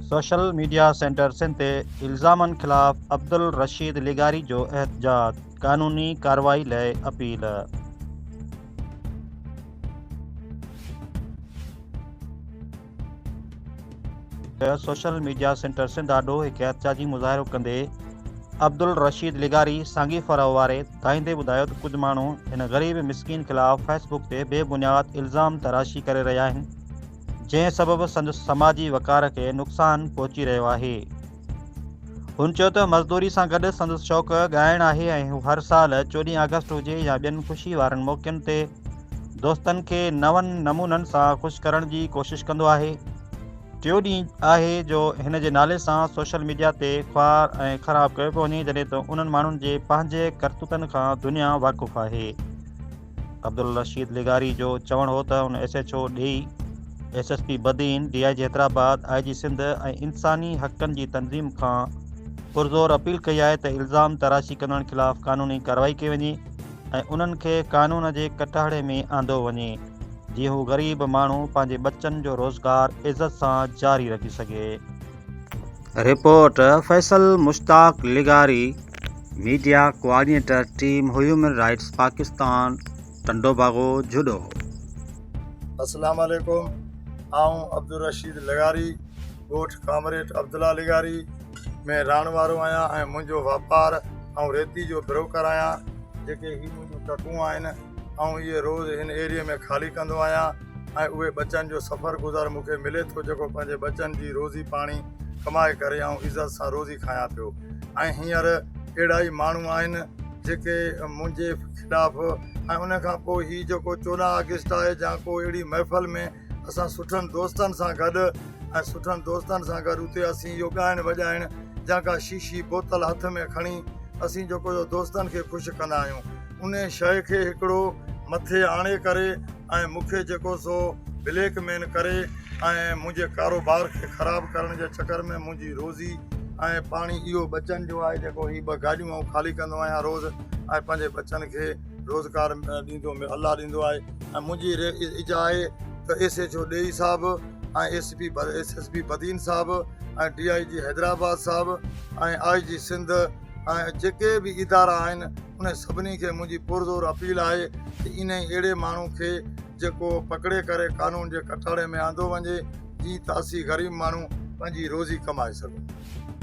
Social media center Sindh تي الزامن خلاف عبدالرشيد لغاري جو احتجاج، قانوني ڪارروائي لئه اپيل. سوشل ميڊيا سينٽر سنڌ آڏو هڪ احتجاجي مظاهرو ڪندي عبدالرشيد لغاري سانگي ڦرهه واري ڌائيندي ٻڌايو ته ڪجهه ماڻهو هن غريب مسڪين خلاف فيس بڪ تي بي بنياد الزام تراشي ڪري رهيا آهن، جنهن سبب سندس سماجي وقار کي نقصان پهچي رهيو آهي. هن چيو ته مزدوري سان گڏ سندس شوق ڳائڻ آهي ۽ هو هر سال چوڏهين آگسٽ هجي يا ٻين خوشي وارن موقعن تي دوستن کي نون نمونن سان خوش ڪرڻ جي ڪوشش ڪندو آهي. ٽيون ڏينهن آهي جو هن جي نالي سان سوشل ميڊيا تي خوار ۽ خراب ڪيو پيو وڃي جڏهن ته انهن ماڻهن جي پنهنجي ڪرتوتن کان دنيا واقف آهي. عبدالرشيد لغاري جو چوڻ هو ته هن ايس ايڇ او ڊيهي، S S P Badin, D I G Hyderabad, I G Sindh ۽ انساني حقن جي تنظيم کان پرزور اپيل ڪئي آهي ته الزام تراشي ڪندڙن خلاف قانوني ڪارروائي ڪئي وڃي ۽ انهن کي قانون جي ڪٽهڙي ۾ آندو وڃي جيئن هو غريب ماڻهو پنهنجي ٻچن جو روزگار عزت سان جاري رکي سگهي. رپورٽ، فيصل مشتاق لغاري، media coordinator team human rights Pakistan Tando Bago Jhuddo. اسلام عليڪم آئون عبدالرشيد لغاري ڳوٺ ڪامريٽ عبدالله لغاري ۾ رهڻ وارو آهيان ۽ منهنجو واپار آئون ريتي جو بروڪر آهيان جيڪي هي منهنجون ٽڪون آهن آئون اهي روز هن ايريي ۾ خالي ڪندو آهيان. ۽ اهي ٻچن جو سفر گذر مون کي ملي ٿو جيڪو پنهنجي ٻچن جي روزي پاڻي ڪمائي ڪري آئون عزت سان روزي کايان پيو ۽ هينئر اهڙا ئي ماڻهو آهن جيڪي منهنجي خلاف ۽ ان کان پوء هي جيڪو چوڏهن آگسٽ آهي جا ڪو اهڙي محفل ۾ اسان سٺن دوستن سان گڏ ۽ سٺن دوستن سان گڏ اتي اسين اهو ڳائڻ وڄائڻ جا ڪا شيشي بوتل هٿ ۾ کڻي اسين جيڪو دوستن کي خوش ڪندا آهيون انهي شيء کي هڪڙو مٿي آڻي ڪري ۽ مون کي جيڪو سو بليڪ مين ڪري ۽ منهنجي ڪاروبار کي خراب ڪرڻ جي چڪر ۾ منهنجي روزي ۽ پاڻي اهو ٻچن جو آهي جيڪو هي ٻه گاڏيون آئون خالي ڪندو آهيان روز ۽ پنهنجي ٻچن کي روزگار ڏيندو الله ڏيندو آهي ۽ منهنجي اجا آهي ته ايس ايچ او ڏيئي صاحب ۽ S P S S P Badin صاحب ۽ ڊي آئي جي حيدرآباد صاحب ۽ آئي جي سنڌ ۽ جيڪي بي ادارا آهن انهن سڀني کي منهنجي پرزور اپيل آهي ته انهي اهڙي ماڻهو کي جيڪو پڪڙي ڪري قانون جي ڪٽهڙي ۾ آندو وڃي جيئن ته اسين غريب ماڻهو پنهنجي روزي ڪمائي سگهون.